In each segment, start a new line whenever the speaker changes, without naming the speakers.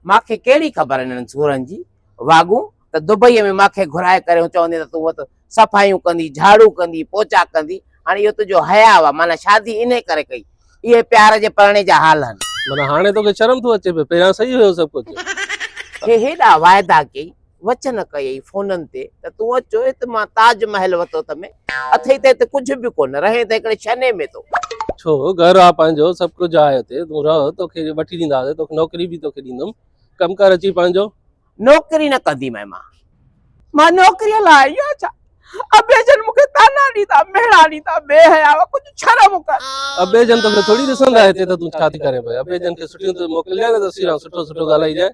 مان کي ڪهڙي خبر انهن سورن جي، واڳون ته دبئيء ۾ مان کي گهرائي ڪريون چوندين ته تون ات صفايون ڪندين، جهاڙو ڪندين، پوچا ڪندين، هاڻي اهو تنهنجو حياء هئا، معنيٰ شادي انهيء ڪري ڪئي. اهي پيار جي پرڻي جا حال هن. معنيٰ هاڻي توکي شرم
ٿو اچي پيو، پهريان صحيح هيو سڀ ڪجهه. کي هيڏا
واعدا ڪيئي. وچ نه ڪيئي فونن تي ته تون اچو هت مان تاج محل وتو ته ۾ اٿئي ته هت ڪجهه به ڪونه رهين ته هڪڙي شني ۾ تو ڇو گهر
آ پنهنجو سڀ ڪجهه آهي هتي تون رهه توکي وٺي ڏينداسي توکي نوڪري به توکي ڏيندم ڪم ڪر اچي پنهنجو. نوڪري نه
ڪندي مئي مان مان نوڪري لاء آئي آهيان ڇا ابي جن مون کي طعنا ڏيندا مهڻا ڏيندا بي حياء ڪجهه شرم ڪر. ابي جن توکي
ٿوري ڏسندا هتي ته تون ڇا ٿي ڪرين پئي ابي جن کي سٺيون ته موڪلجانء نه ته سيران سٺو سٺو ڳالهائجانء.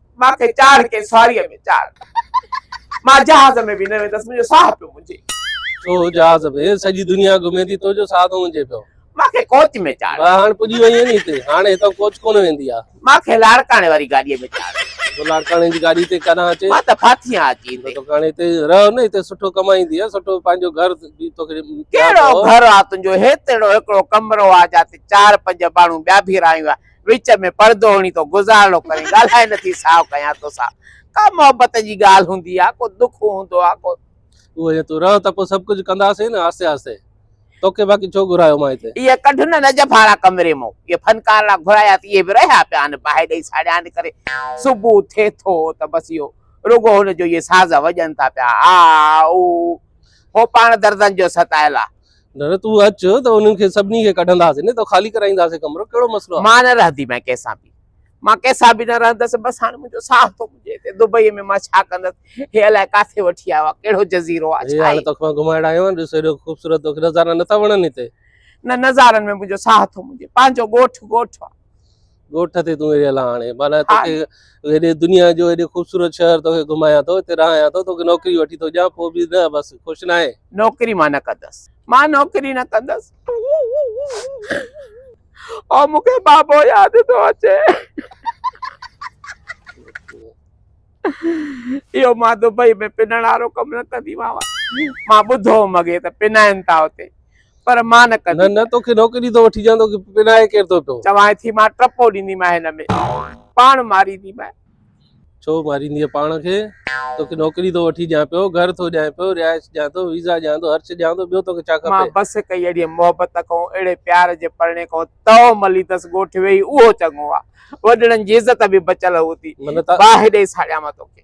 مان
کي چاڙهه ڪنهن سواريء ۾ چاڙهه. مان جهاز ۾ به نه ويندس، منهنجو ساهه پيو منجهي. تو جهاز
۾ سڄي دنيا گهمي ٿي، تنهنجو ساهه ٿو منجهي پيو. مان کي ڪوچ ۾
چاڙهه. ڀاء هاڻ پڄي وئين ني هتي،
هاڻ هتان ڪوچ ڪونه ويندي آ. مان کي لاڙڪاڻي واري
گاڏيء ۾ چاڙهه. تو لاڙڪاڻي جي گاڏي
تي ڪڏهن اچي. مان ته ڦاٿي آن اچي
هتي. تو هاڻ هتي رهه
نه، هتي سٺو ڪمائيندينء، سٺو پنهنجو گهر به توکي ڏيان ٿو. ڪهڙو گهر آ
تنهنجو، هيترڙو هڪڙو ڪمرو آ، جيان تي چار پنج ماڻهو ٻيا به رهايون آ، وچ ۾ پڙدو هڻي تو گذارڻو ڪرين ڳالهائي نه ٿي ساهه کنيان توسان ڪا محبت جي ڳالهه هوندي آ ڪو دک هوندو آ ڪو. اهو جي تون رهه
ته پوء سڀ ڪجهه ڪنداسين نه آهستي آهستي توکي باقي ڇو گهرايو مان هتي. اهي ڪڍ نه نجف
هاڙا ڪمري مون اهي فنڪار لا گهرايا ته اهي به رهيا پيا آهن باهه ڏئي ساڙيان ڪري صبح ٿئي ٿو ته بس اهو رڳو هن جو اهي ساز وڄن ٿا پيا آ او هو پاڻ دردن جو ستايل آ نه نه تون اچ
ته انهن کي سڀني کي ڪڍنداسين نه ته خالي ڪرائينداسين ڪمرو ڪهڙو مسئلو آهي. مان نه رهنديمانء ڪنهن سان
به. مان ڪنهن سان به نه رهندس بس هاڻ منهنجو ساهه ٿو مڃي هتي دبئيء ۾ مان ڇا ڪندس. هي الائي ڪاٿي وٺي آيو آهي ڪهڙو جزيرو آهي ڇا هي. هي هاڻ توکي مان گهمائڻ آيو آهيان
ڏس هيڏو خوبصورت توکي نظارا نٿا وڻن هتي. نه نظارن
۾ منهنجو ساهه ٿو مڃي پنهنجو ڳوٺ ڳوٺ آهي. ڳوٺ تي تون
رهيل آهين هاڻي معنيٰ توکي هيڏي دنيا جو هيڏي خوبصورت شهر توکي گهمايان ٿو هتي رهايان ٿو توکي نوڪري وٺي ٿو ڏيان پوء به نه بس خوش نه آهين. نوڪري مان نه ڪندس
مان نوڪري نه ڪندس او مون کي بابو ياد ٿو اچي. اهو مان دبئي ۾ پنڻ وارو ڪم نه ڪندي مانء مان ٻڌو هوم اڳي ته پنائين ٿا اتي پر مان نه ڪندي نه نه توکي نوڪري ٿو
وٺي ڏيان توکي پنائي ڪير ٿو پيو چوانء ٿي مان ٽپو
ڏيندي مانء هن ۾ پاڻ ماريندي مانء ڇو
ماريندي پاڻ کي توکي نوڪري ٿو وٺي ڏيان پيو گهر ٿو ڏيان پيو رهائش ڏيان ٿو ويزا ڏيان ٿو هر شي ڏيان ٿو ٻيو توکي ڇا کپي مان بس ڪئي اهڙي
محبت ڪئون اهڙي پيار جي پرڻي ڪئون تئو ملي تس ڳوٺ ويهي اهو چڱو آ وڏڙن جي عزت به بچل هوتي باهه ڏئي ساڙيان مان توکي.